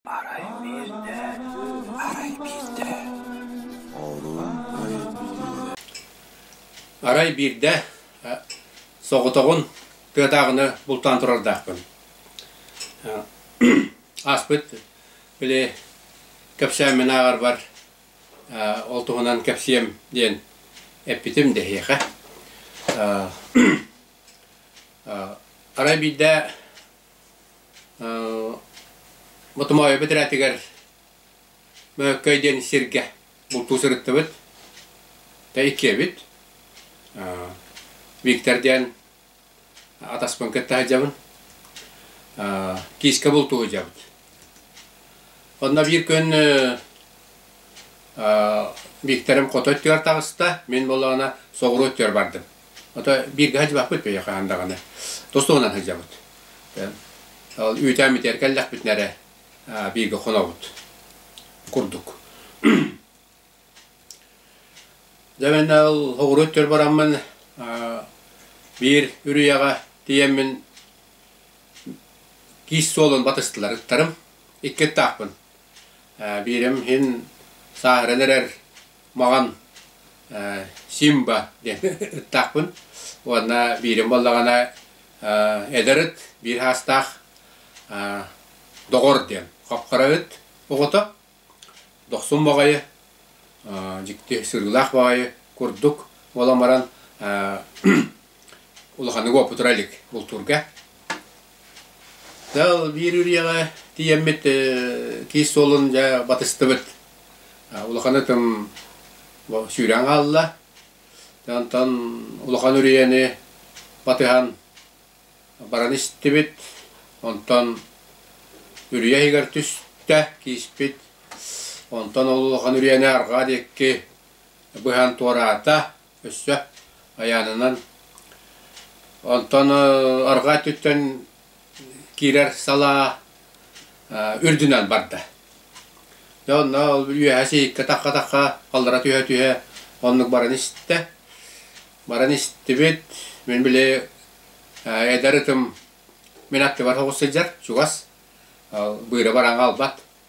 Арай биирдэ, арай биирдэ, оҕолорун өйөппүтүнэн Арай биирдэ э, соҕотоҕун тыатааҕыны бултаан турардаахпын. Э, Ааспыт били кэпсээммин ааҕарбар э, ол туһунан кэпсиэм диэн эппитим дэһиэхэ. Э, э, Арай биирдэ Ботомоойу бэтэрээтигэр Мөккөй диэн сиргэ бултуу сырыттыбыт. Та иккиэбит. Виктор диэн атаспын кытта сылдьабын. Киискэ бултуу сылдьабыт. Онно биир күн Викторым хоту өттүгэр таҕыста, мин буоллаҕына соҕуруу өттүгэр бардым. Ото бииргэ садьыбаппыт бэйэ хаан даҕаны тостугунан сылдьабыт. Ол үүтээммитигэр кэллэхпитинэ эрэ бииргэ хонобут курдук. Дьэ мэннэ ол оҕуруо өттүгэр бараммын биир үрүйэҕэ тиийэммин киис суолун батыстылар ыттарым. Икки ыттаахпын. Биирим иһин сааһыран эрэр маҕан Симба диэн ыттаахпын уонна биирим буоллаҕына эдэр ыт биир саастаах доҕор диэн хапхара ыт оҕото дохсун баҕайы дьикти сырыылаах баҕайы курдук буолан баран улаханнык уопутура илик бултуурга. Дьэ биир үрүйэҕэ тиийэммит киис суолун дьэ батыстыбыт. Улаханы тым сүүрэн хаалла. Онтон улахан үрүйэни батыһан баран истибит. Онтон үрүйэ иһигэр түстэ кииспит. Онтон ол улахан үрүйэни арҕаа диэки быһан туораата. өссө айаанынан. Онтон арҕаа өттүттэн киирэр салаа үрдүнэн барда. Дьэ онно ол үөһэ сииккэ-тахха-тахха аллара түһэ-түһэ оннук баран истэ. Баран истибит, мин били эдэр ытым мин аттыбар соҕус сылдьар, чугас, быыра бараҥа албат.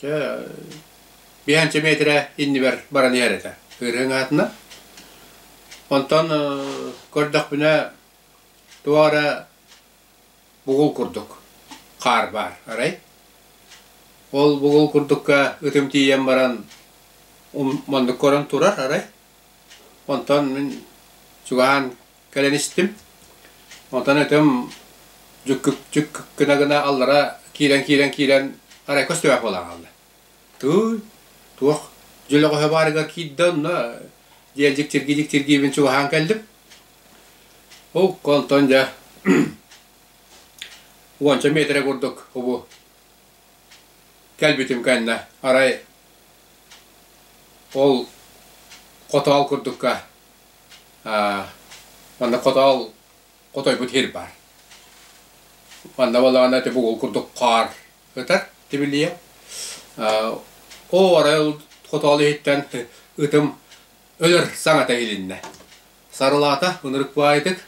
Чэ, биһээнчэ миэтирэ иннибэр баран иһэр этэ, ыарыһыҥ аатынан. Онтон көрдөхпүнэ туох эрэ бугул курдук хаар баар, арай? Ол бугул курдукка ытым тиийэн баран маннык көрөн турар, арай? Онтон мин чугаһаан Кэлэн истим. Онтон этим дьүккүк гына гына аллара киирэн киирэн киирэн арай көстүбэх буолан хаалла. Тыый, туох дьөлөҕөһө баарыгар киирдэ онно диэн дьиктиргии дьиктиргиибин чугаһаан кэллим. Окко онтон дьэ уонча миэтэрэ курдук убу кэлбитим кэннэ арай ол хотоол курдукка Манна хотоол хотойбут иһир баар. Манна буоллаҕына ити бугул курдук хаар ытар тибилийэ. Оо арай ол хотоол иһиттэн ытым өлөр саҥата иһилиннэ. Сарылаата ынырык баайытык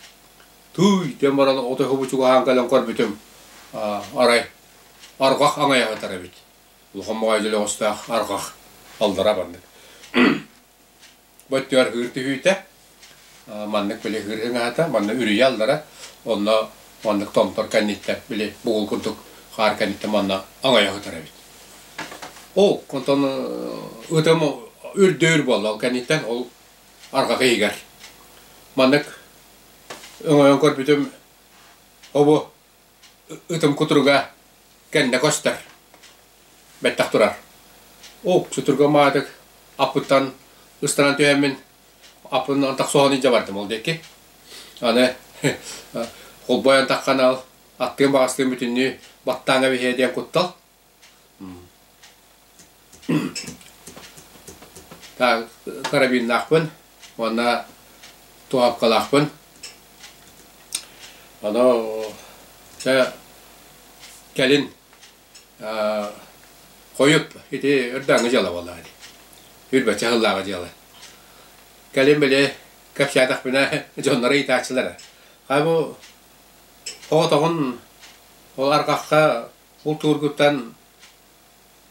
тууй диэн баран отоһубу чугаһаан кэлэн көрбүтүм арай арҕах аҥайа ытар эбит. Улахан баҕайытык өлөҕөстөөх арҕах аллара маннык бу өттүгэр ыһыыр түһүүтэ маннык били ыһыыр ыҥаата манна үрүйэ аллара онно маннык томтор кэнниттэн били бугул курдук хаар кэнниттэн манна аҥайа сытар эбит ол онтон ытым үрдүүр буолла ол кэнниттэн ол арҕаҕы игэр маннык өҥөйөн көрбүтүм обу Ытым кутуруга кэннэ көстөр, бэттэх турар. Уу, сутургум аатык аппыттан ыстанан түһэммин аппынан тахсуоҕун илдьэ бардым ол диэки. Аны холбойон тахханал аттыын-баҕастыын бүтүннүү баттааҥҥа биһиэ диэн куттал карабиннаахпын уонна туһапкалаахпын. Ону чэ кэлин хойут ити ырдааҥҥы дьыала буолаҕын үрбэччэ сыллааҕы дьыала. Кэлин били кэпсээтэхпинэ дьонноро ыйытааччылара: «Хаа бу оҕотоҕун ол арҕахха култуургуттан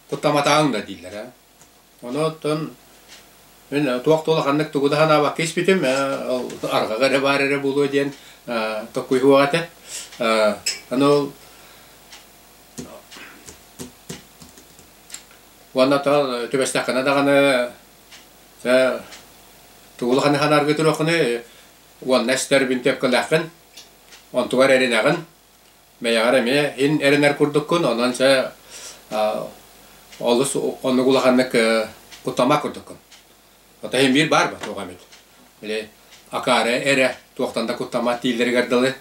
куттаматаҕыҥ да дииллэрэ. Ону оттон мин туох да улаханнык тугу да санаабакка испитим, ол арҕаҕа эрэ баар эрэ буолуо диэн толкуйдуох этэ. Аны ол уонна түбэстэххинэ даҕаны тугу улаханы санаарга туруоххунуй уонна эстэр бинтиэпкэлээххин онтугар эринэҕин Бэйэҕэр эмиэ һин эрэнэр курдуккун, онон чэ олус оннук улаханнык кутама курдуккун. Ото иһин биир баар бо туох эмит. Били акаары эрэ туохтан да куттама дииллэригэр дылы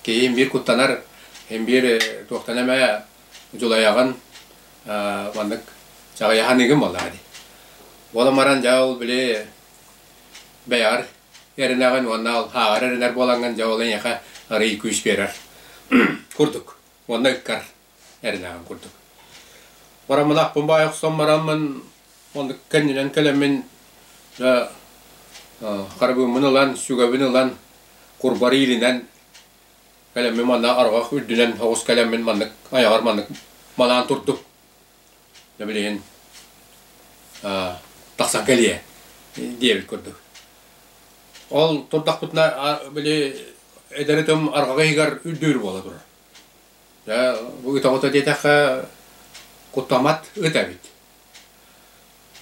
киһи иһин биир куттанар, иһин биир туохтан эмэ дьулайаҕын маннык чаҕыйаһыныгын буоллаҕа дии. Буолан баран дьэ ол били бэйэҕэр эрэнэҕин уонна ааҕар эрэнэр буолаҥҥын дьэ ол эйиэхэ арыый күүс биэрэр курдук уонна ыккар эрэнэҕин курдук бораммынахпын баай охсон бараммын оннук кэннинэн кэлэммин харабыыммын ылан сүгэбин ылан курбары илинэн кэлэммин манна арҕах үрдүнэн оҕус кэлэммин маннык айаҕар маннык манаан турдук Да билигин аа тахсан кэлиэ диэбит курдук. Ол турдахпытына били эдэр этим арҕаҕы иһигэр үрдүүр буола турар. Дьэ бу ыта-бута диэтэххэ куттаммат ыт эбит.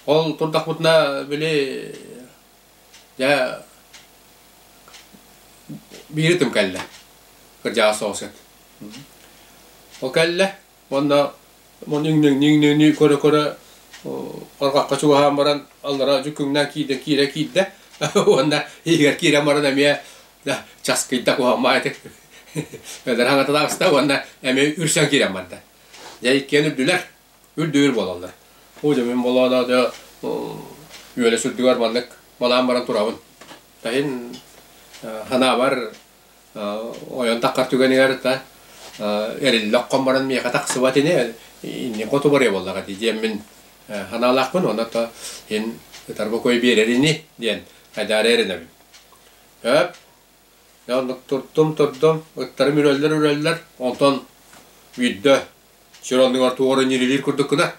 Ол турдахпытына били дьэ биир ытым кэллэ. Кырдьаҕас соҕус ыт. Ол кэллэ Уонна ниҥ-ниҥ-ниҥ-ниҥ көрө-көрө харҕахха чугаһаан баран аллара дьүкүҥнээн киирдэ, киирэ киирдэ уонна иһигэр киирэн баран эмиэ часкыйда куһаммаа ити бэдэр хаҥаталаабыста уонна эмиэ үрсэн киирэн барда. Дьэ иккиэн үрдүлэр, үрдүөр буолаллар. Уу дьэ мин болооно дьэ үөлэ сүрдүгэр маннык малаан баран турабын. Таһин ханаабар ойон таххар түгэнигэр та эриллэ оххон баран миэхэ тахсыбат ини иннин хоту барыа буоллаҕа дии диэммин санаалаахпын уонна то иһин ытарба кой биэрэр ини диэн айдаара эрэнэбин өп оннук турдум турдум ыттарым үрөллөр үрөллөр онтон үүрдэ сир оннугар туора ньирилиир курдук гына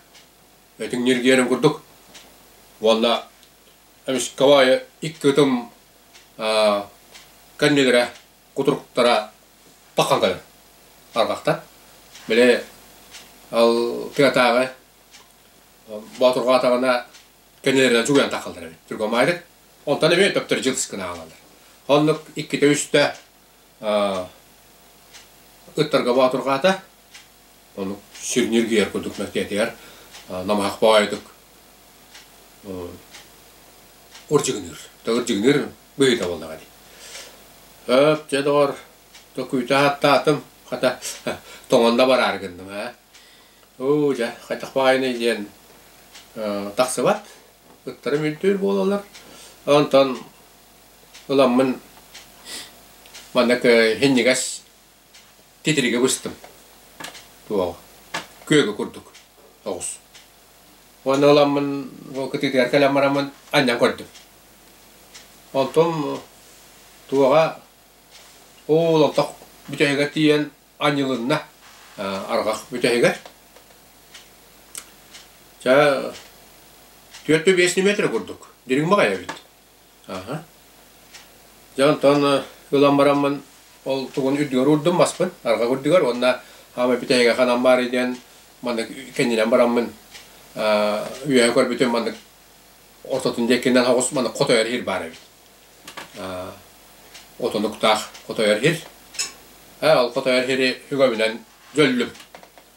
Этиҥ ньиргиэрин курдук. Уонна эмискэ аайы икки ытым кэннилэрэ, кутуруктара тахсан кэлэр арҕахтар. Били ол тыатааҕы боотурҕаатаҕына кэннилэринэн чугуйан тахаллар эбит. Другомайдык. Онтон эмиэ төптөрү дьылыс гынаҕаллар. Оннук иккитэ-үстэ Ыттарга боотурҕаата. Ону сүнньүргүйэр курдук мөккиэтигэр намаһахпа айытык ырдьыгыныыр. Да ырдьыгыныыр быйыта буоллаҕа дии. Өп, дьэ доҕор, токуйта аттаатым. Хата, тоҥонно бараары гынным ээ. Оо, дьэ, хайдах баайынай диэн тахсыбат. Ыттарым үрдүүр буолаллар. Онтон Ыламмын манна һинньигэс титириги быстым. Туоҕа. Күөгү курдук оҕус. Уонна ыламмын ол кытыытыгар кэлэн бараммын анньан көрдүм. Онтум туоҕа уу лотох бүтэһигэр тиийэн анньылынна арҕах бүтэһигэр. Чэ, түөрт да биэс ньиэмэтирэ курдук дириҥ баҕайы эбит. Аха. Дьэ онтон ылан бараммын ол тугун үрдүгэр уурдум маспын арҕах үрдүгэр уонна хаамай бүтэйгэ ханан баарый диэн маннык кэннинэн бараммын үөһэ көрбүтүм маннык ортотун диэкинэн соҕус маннык хот ойор иһир баар эбит. Отонуктаах хот ойор иһир. Ээ ол хот ойор иһири үгэбинэн дьөллүм.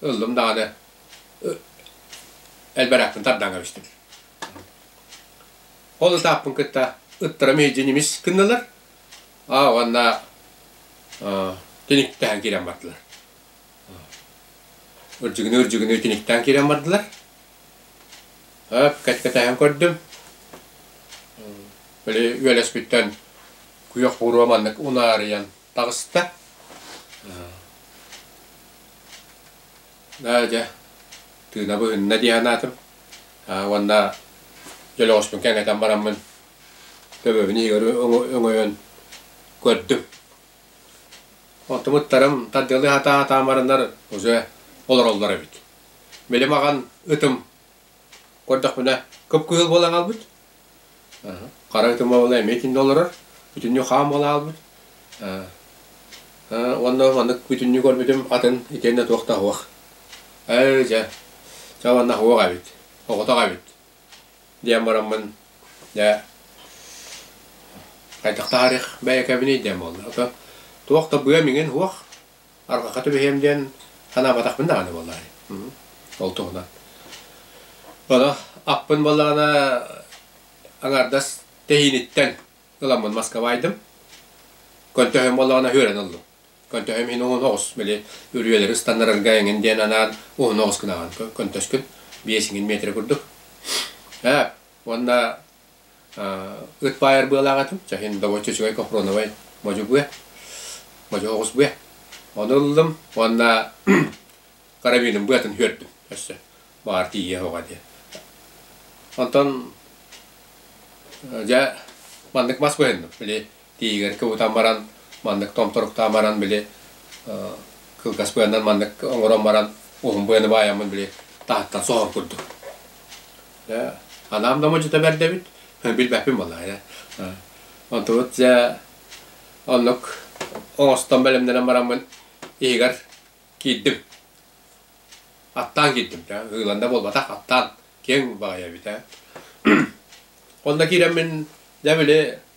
ыллым даҕаны элбэрэхпин тардаҥа эбиспит. Ол ытааппын кытта ыттара мейдьинимис гынналар. Аа уонна тиниктэһэн киирэн бардылар. Ырдьыгыныы ырдьыгыныы тиниктээн киирэн бардылар. Өп кэт-кэтэһэн көрдүм. Били үөлэспиттэн күйөх буруо маннык унаарыйан таҕыста. Да, дьэ, тыына быһынна дии санаатым. Уонна дьөлөҕөспүн кэҥэтэн бараммын төбөбүн Игорь өҥөйөн көрдүм. Онтумуттарым тардыалыы сатаамарынар уже олороллор эбит. Били маҕан ытым Көрдөхпүнэ, кып-кыһыл буола хаалбыт. Хара ытым уола эмиэ итиннэ олорор. Бүтүннүү хаам буола хаалбыт. Уонна маннык бүтүннүү көрбүтүм атын итиэннэ туох да аһуох. Ээ, дьэ, чэ уонна аһуох эбит, оҕотох эбит диэн бараммын, дьэ, хайдах таһаарыах бэйэкэбиний диэн буолла. Туох да быам иҥин, уох. арҕаха түбэһиэм диэн санаабатахпын даҕаны буоллаҕа ол туһунан ону аппын буоллаҕына аҥардас тэһииниттэн ыламмын москвайдым көнтөһөм буоллаҕына үөрэн ыллым көнтөһөм иһин уһун оҕус били үрүйэлэри ыстаннарарга эҥин диэн анаан уһун оҕус гынаҕын көнтөскүн биэс иҥин метрэ курдук ээ уонна ыт баайар быалаах этим, чаһин добончо үчүгэй копроновай модьугуя, модьу оҕусбуя. Ону ыллым уонна карабиным быатын үөрдүм өссө баар тиийиэ оҕо диэн. Онтон дьэ маннык мас быһынным, били Тиийигэтикэ утан баран, маннык томторуктаан баран, били кылгас быаннан маннык оҥорон баран, уһун быаны баайаммын били таһыттан соһор курдук. Анаам да модьута бэрдэбит, билбэппин буолаайа. Онтубут дьэ оннук оҥостон бэлэмнэнэн бараммын иһигэр киирдим. Аттаан киирдим да, ыылан да буолбатах, аттаан киэҥ баайа эбит ээ. Онно киирэммин, дьэ били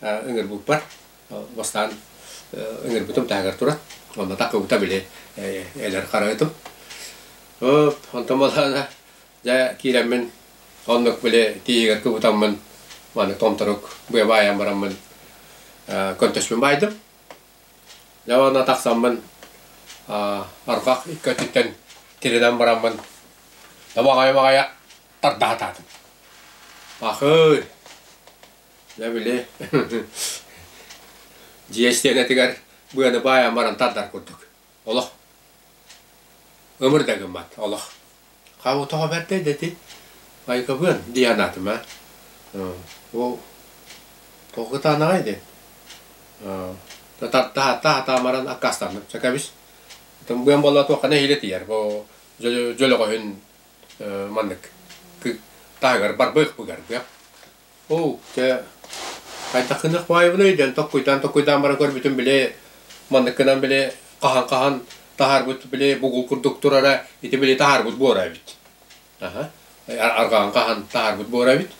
ыҥырбыппар бастаан ыҥырбытым таһыгар туран онно кыбыта били эдэр харайытым онтон балаана дьэ киирэммин оннук били тииһигэр кыбытаммын маны томторук быа баайан бараммын көнтөспүн баайдым дьэ онно тахсаммын арҕах икки өттүттэн тиринэн бараммын тобаҕайым аҕайа тардаһа сатаатым ахыый Дьэ били дьиэ истиэнэтигэр быаны баайан баран тардар курдук. Олох ымыр да гыммат олох. Хау тоҕо бэрдэй дэти Майкабыан дии анаатым ээ. Ол тоҕо кытаанаҕай диэн. Да тартаһата хатаамаран аккаастанным. Чэ кэбис. Итим быан буолла туохха нэһиилэ тиийэр бу дьөлөҕөһүн маннык таһыгар барбыах быгар быах. Оо, чэ, хайдах гыныах баҕайыбыный диэн токкуйдаан токкуйдаан баран көрбүтүм били манныккынан били хаһан-хаһан таһаарбыт били бугул курдук турара ити били таһаарбыт буора эбит. Аһа, арҕаҕын хаһан таһаарбыт буора эбит.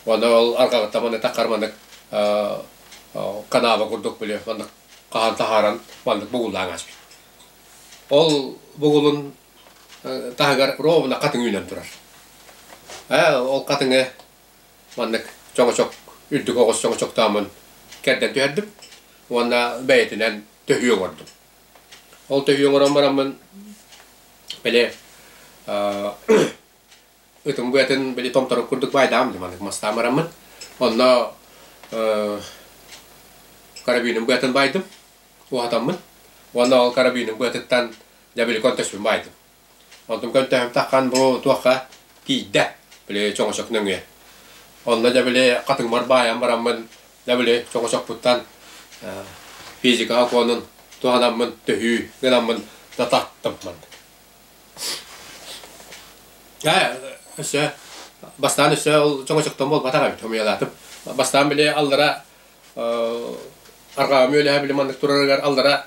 Уонна ол арҕаҕыттан маннык таххар маннык канаба курдук били маннык хаһан таһааран маннык бугуллаан ааспыт. Ол бугулун таһыгар ровно хатыҥ үүнэн турар. ол хатыҥы маннык чоҥочок, үрдүк оҕус чоҥочоктоомун кэрдэн түһэрдим уонна бэйэтинэн төһүү оҥордум. Ол төһүү оҥорон бараммын, били ытым быатын били томторук курдук баайдаам да маннык мастаан бараммын. Онно карабиным быатын баайдым, уһатаммын. Уонна ол карабиным быатыттан Дьэ били көнтөспүн баайдым. Онтум көнтөһүм таххан бу туохха киирдэ. Били чоҥочок нөҥүө. Онно дьэ били хатыҥмар баайан бараммын дьэ били чоҥочокпуттан физика окуонун туһанаммын төһүү гынаммын да таттыммын. Ээ өссө бастаан өссө ол чоҥочоктон буолбатах эбит хомуйалаатым. Бастаан били аллара арҕаҕым үөлэһэ били маннык турарыгар аллара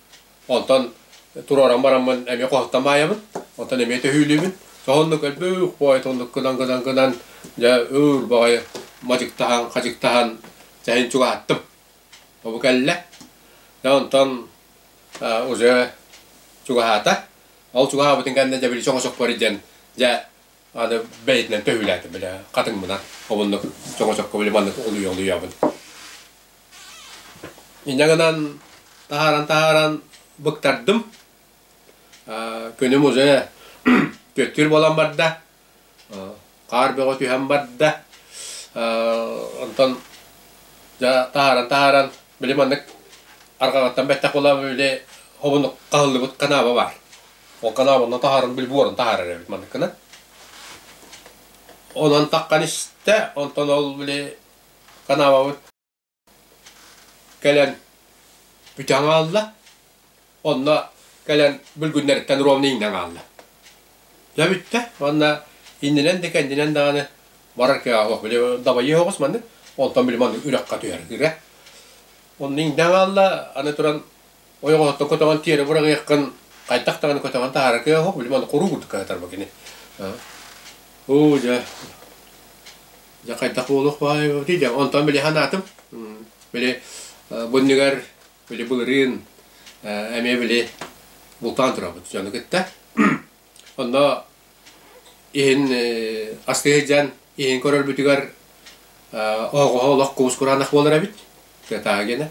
Онтон туруоран бараммын эмиэ хоһуттан маайабын, онтон эмиэ төһүүлүүбүн. Соһуннук өлбөх боойотуннук гынан гынан гынан дьэ уур баҕайы мадьыктаһан, хадьыктаһан чэһин чугаһаттым. Бу кэллэ. Дьэ онтон уже чугаһаата. Ол чугаһаабытын кэннэ дьэ били чоҥочокпор илдьэн дьэ аны бэйэтинэн төһүүлээтим, били хатыҥмынан хомуннук чоҥочокко били маннык улуйа-улуйабын. Инньэ гынан таһааран-таһааран быктардым. күнүм уже түөттүүр буолан барда, хаар бөҕө түһэн барда, онтон дьэ таһааран-таһааран били маннык арҕаҕыттан бэттэх буолан били хомунук хаһыллыбыт канаба баар. Ол канабанан таһааран били буорун таһаарар эбит манныккынан. Онон таххан истэ, онтон ол били Канаабабыт кэлэн бүтээн аҕалла, онно кэлэн бүргүннэриттэн ровно иҥнэн хаалла. Дьэ бүттэ уонна иннинэн да кэннинэн даҕаны барар кыаҕа били дабайыа оҕус маннык, онтон били маннык үрэххэ түһэр ырэ. Онно иҥнэн хаалла, аны туран ойоҕоһуттан көтөҕөн тиэрэ быраҕыаххын хайдах даҕаны көтөҕөн таһаара кыа оһох били маны куруук кыһатарба кини оо дьэ дьэ хайдах буолуох баай ити дьэ онтон били санаатым били бу иннигэр били былырыын эмиэ били бултаан турабыт дьону кытта Онно иһин аска сылдьан иһин көрөрбүтүгэр оһоҕоһо олох куус-кураанах буолар эбит, кытаагына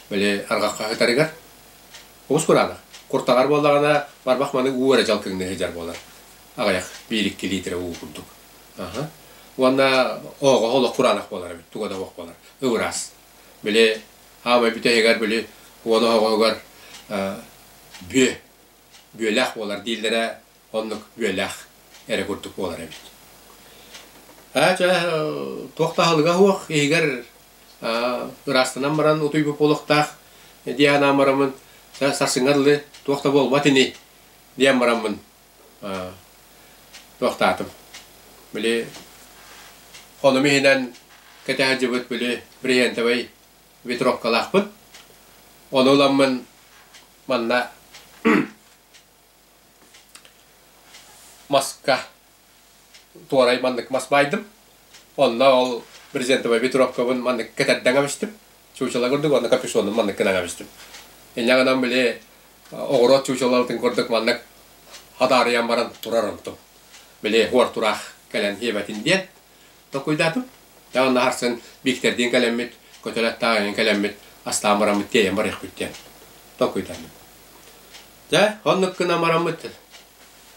били арҕахха сытарыгар куус-кураанах. Куртаҕар буоллаҕына барбах маннык уу эрэ дьалкыҥныы сылдьар буолар аҕыйах биир-икки лиитирэ уу курдук. Уонна оһоҕоһо олох кураанах буолар эбит, туга да суох буолар, ыбыраас. Били аамай бүтэһигэр били уон оһоҕоһугар бүө бүөлээх буолар дииллэрэ оннук бүөлээх эрэ курдук буолар эбит. Аа ча туох таһылыга хуох иһигэр ыраастанан баран утуйбут буолуохтаах диэн анаан барамын сарсыҥҥар лы туох да буолбат ини диэн бараммын туохтаатым били ону иһинэн кэтэһэдьибит били бриллиантовай ветровкалаахпыт ону ыламмын Манна маска туорай маннык мас баайдым. Онно ол брезентовай битровкабын маннык кэтэрдэҥ амистым. Чучала курдук онно капюшонум маннык кынан амистым. Инньэ гынан били оҕуруот чучалабытын курдук маннык хадаарыйан баран турар онтум. Били хуор тураах кэлэн хиэбэтин диэн Токуйдаатым. Таан наһарсан Виктордиин кэлэммит, көтөлөт таайын кэлэммит, астаан бараммыт тиэйэн барыахпыт диэн токуйдардым. Дьэ, оннук гынан бараммыт.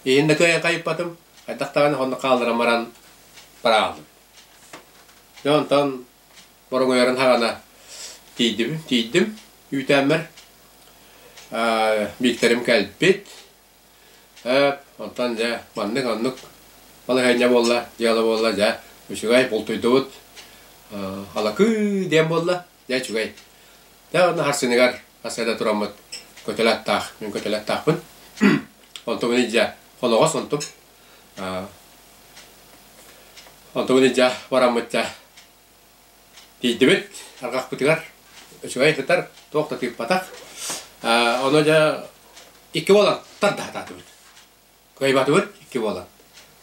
Иһиннэ кайыппатым, хайдах даҕаны оннук хаалларан баран барааллым. Дьэ онтон боруҥуйарын хаҕана тиийдим, тиийдим. Үүтээммэр Викторим кэлбит, Һээт, онтон дьэ маннык оннук балаһыанньа буолла, дьыала буолла, дьэ үчүгэй бултуйдубут. Алакыы диэн буолла, дьэ үчүгэй. Дьэ онно харсыныгар хас эрэ тураммыт көтөл аттаах, мин көтөл аттаахпын. Онтубун илдьэ хоноҕос онтум. Онтубун илдьэ бараммыт дьэ Тиийдибит арҕахпытыгар үчүгэй сытар, туох да тыыппатах. Ону дьэ икки буолан тарда сатаатыбыт. Кыайбатыбыт икки буолан.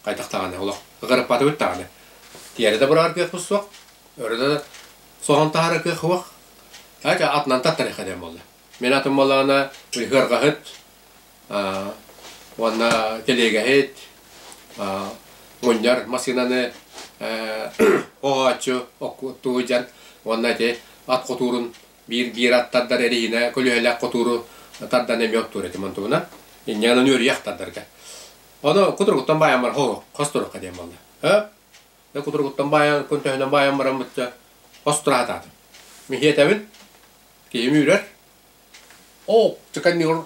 Хайдах даҕаны олох ыгырыппатыбыт даҕаны. Тиэрэ да быраҕар кыахпыт суох. Өрө да соһон таһаара кыах суох. Ача атынан таттарыаха диэн буолла. Мин атын буоллаҕына ыһыарҕаһыт уонна тэлиэгэһит, мунньар массыынаны оҕооччу оттуулдьан уонна ити ат хотуурун биир биир ат тардар эриһинэ көлүһэлээх хотууру тардан эмиэ оттуур этим онтубуна инньэҕинэн үөрүйэх тардарга ону кутуругуттан баайан баран хоһу хос туруққа диэн буолла э кутуругуттан баайан күн төһөнөн баайан баран бычча хос тураатаатым михиэтэбин киһим үүрэр оо чыканньыр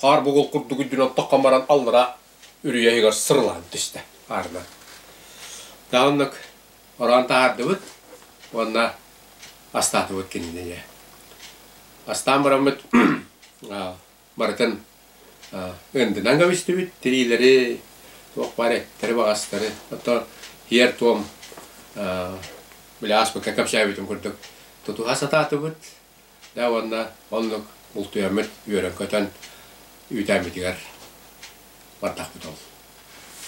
Хаар бугул курдук үрдүн оттоххон баран аллара үрүйэ иһигэр сырылаан түстэ аарынан. Дааннак ороон таһаардыбыт уонна астаатыбыт кинини. Астаан бараммыт барытын ындынан кэбистибит, тириилэри, туох баар эттэри, баҕастары, ото тиэр-туом, били ааспыкка кэпсээбитим курдук, тутуһа сатаатыбыт, Да уонна оннук бултуйаммыт үөрэн-көтөн үүтээммитигэр бардахпыт ол